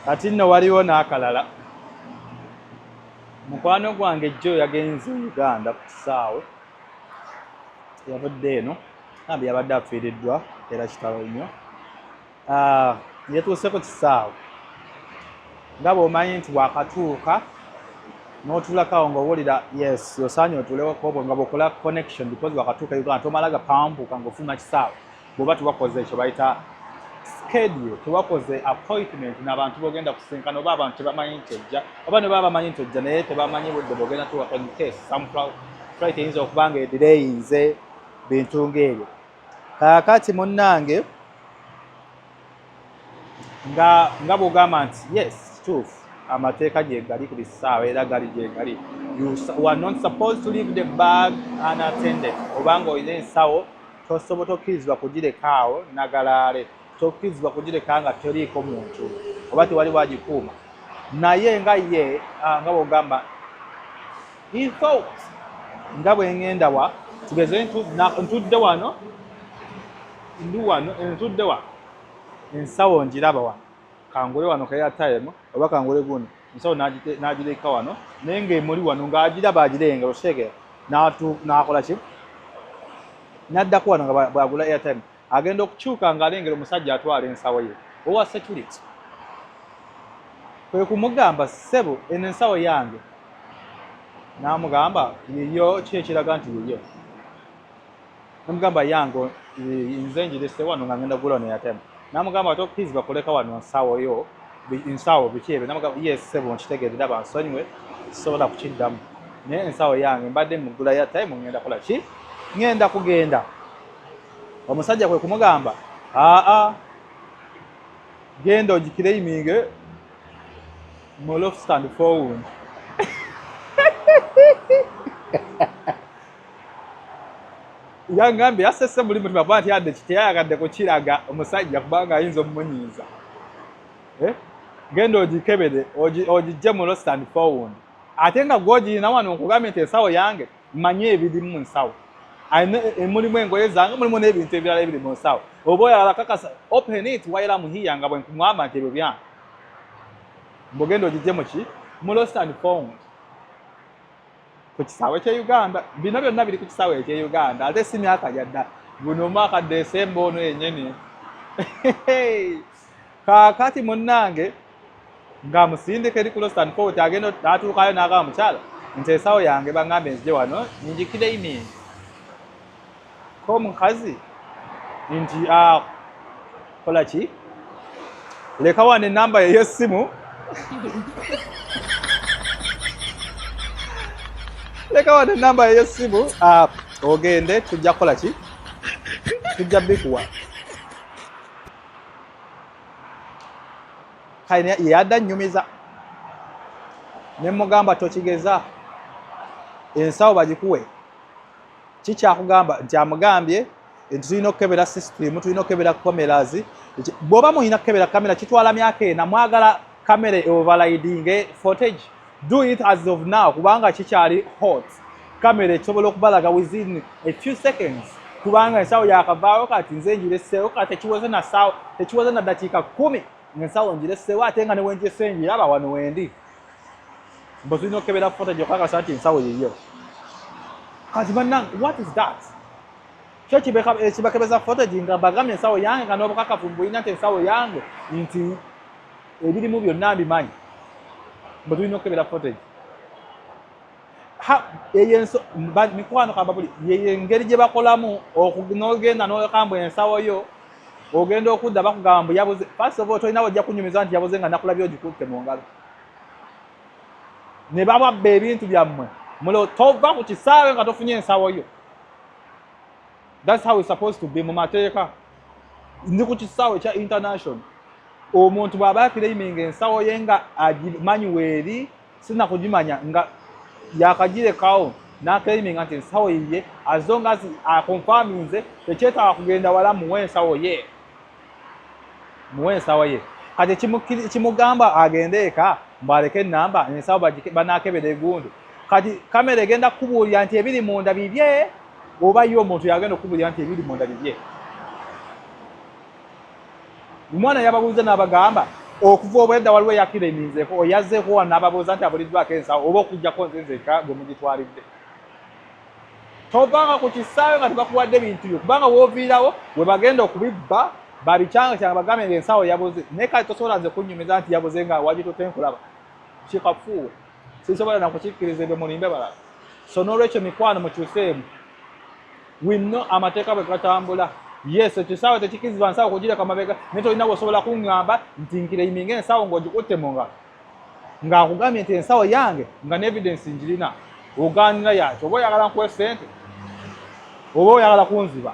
kati nno waliwo n'akalala mukwano gwange jjo yagenze uganda ku kisaawe yavudde eno ambi yabadde afiiriddwa era kitalo nnyo ah, yetuuse ku kisaawe nga bwomanyi nti wakatuuka notulakawo ngaowulira yes osaanye otuulewokobwe nga bwokola connection because wakatuuka uganda tomala gapanvuka ngaofuluma kisaawe bwoba tewakoze ekyo bayita schedule tewakoze appointment nabantu bogenda kusinkana oba abantu tebamanyi nti ojja oba nebaba bamanyi nti ojja naye tebamanyi budde bogenda tuwa in case some flight eyinza okuba nga edireyinze bintu ngaebyo kaakati munnange nga nga bwogamba nti yes kituufu amateeka gyegali ku bisaawa era gali gyegali you are not supposed to leave the bag unattended oba nga olina ensawo tosobo tokkirizibwa kugireka awo nagalaale tokkirizibwa kugireka nga teriiko muntu oba tewali wagikuuma naye nga ye ah, nga bwogamba He thought nga bwe ngenda wa tugeze ntudde wano ndi wano ntudde wa ensawo ngiraba wano kangule wano kaya time oba kangule guno ensawo n'agireka wano naye ng'emuli wano ng'agiraba agirenga okitegera n'akola ki n'addako wano nga bwagula airtime agenda okukyuka ng'alengera omusajja atwala ensawo ye owa security kwe kumugamba ssebo eno ensawo yange n'amugamba yiyo ki ekiraga nti yiyo namugamba yange nze njirese wano nga ngenda gula neyatema namugamba ate okizi bakuleka wano nsawo yo nsawo biki ebyo namugamba ye ssebo nkitegeere daba nsonyiwe sisobola kukiddamu naye ensawo yange mbadde mugula ya time ngenda kola ki ngenda kugenda Omusajja kwe kumugamba aa genda ogikiraiminge mu loft and forward yangambye yasese muli mutima kuba nti yadde kiteyayagadde kukiraga omusajja kubanga ayinza omumunyiiza eh? genda ogikebere ogijje mu lost and found ate nga gwogirina wano nkugambye nti ensawo yange Mmanyi ebiri mu nsawo. Alina e, mulimu engoye zange, mulimu n'ebintu ebirala ebiri mu nsawo. Oba oyagala kakasa, open it while I'm here nga bwe nkumwamba nti ebyo byange. Mbogenda ogijje mu ki? Mu lost and found. Ku kisaawe ky'e Uganda. Bino byonna biri ku kisaawe eky'e Uganda. Ate si myaka gya dda. Guno omwaka Desemba ono yennyini. Kaakati munnange. ng'amusindika eri ku Lostan Fort agenda atuukayo n'agamba mukyala nti ensawo yange bang'ambe nzije wano ninjikira iningi ko omukazi nti ah, kola ki leka wano enamba yeyo essimu leka wano enamba yeyo essimu ah, ogende tujja kukola ki tujja bikuwa kale yeyadda nnyumiza ne mugamba tokigeza ensawo bagikuwe kikyakugamba nti amugambye nti tulina okukebera system tulina okukebera cameras bwoba mulina kukebera kamera kitwala myaka ena mwagala kamera eoverlidinge footage do it as of now kubanga kikyali hot kamera ekisobola okubalaga within a few seconds kubanga ensawo yakavaawo kati nze njireseewo kati tekiweze nasawo tekiweze na dakiika kumi ngaensawo njireseewo ate nga newenjese njiraba wano wendi mbu tulina okukebera footage okakasa nti ensawo yiyo kati banange what is that kyo kibakebeza footage nga bagambye ensawo yange nga nobukakavu mbulina nti ensawo yange nti ebirimu byonna mbimanyi mbu tulina okukebera footage eyo enso mikwano kambabuli yeyo engeri gye bakolamu n'ogenda nokambwa ensawo yo ogenda okudda bakugamba mbu yabuze first of all tolinawo ojja kunyumiza nti yabuze nga nakulabye ogikutte mu ngalo ne bababba ebintu byammwe mulo tova ku kisaawe nga tofunye ensawo yo thats how is supposed to be mu mateeka ndi ku kisaawe ekya international omuntu bw'aba akiraiminga ensawo ye nga agimanyi weeri sirina kugimanya nga yakagirekawo n'akeraiminga nti ensawo yiye azo nga akonfaminze tekyetaaga kugenda wala muwe ensawo ye muwe ensawo ye kati ekimugamba agende eka mbwaleke enamba ensawo banaakebera egundu kati kamera egenda kukubuulira nti ebiri munda bibye oba ye omuntu yagenda okukubulira nti ebiri munda bibye omwana yababuuza n'abagamba okuva obwedda waliwo eyakira eminzeeko oyazzeeko wa n'ababuuza nti abuliddwako ensawo oba okugjako nzinzeeka gwe mugitwalidde tovanga ku kisaawe nga tebakuwadde bintu byo kubanga wooviirawo we bagenda okubibba babikyanga kyanga bagambe nga ensawo yabuze naye kati tosobola nze kunnyumiza nti yabuze nga wagitute nkulaba kikafuuwe sinsobola nakukikkiriza ebyo mulimbe balala so n'olwekyo mikwano mukyuseemu winno amateeka bwe gatambula yes ekyo saawa tekikirizibwa nsaawa okugireka mabega naye tolina wosobola kuŋŋamba nti nkireiminga ensaawo ng'ogikutte mu ngalo ng'akugambye nti ensawo yange nga neevidensi ngirina ogaanira yakyo oba oyagala nkuwe ssente oba oyagala kunziba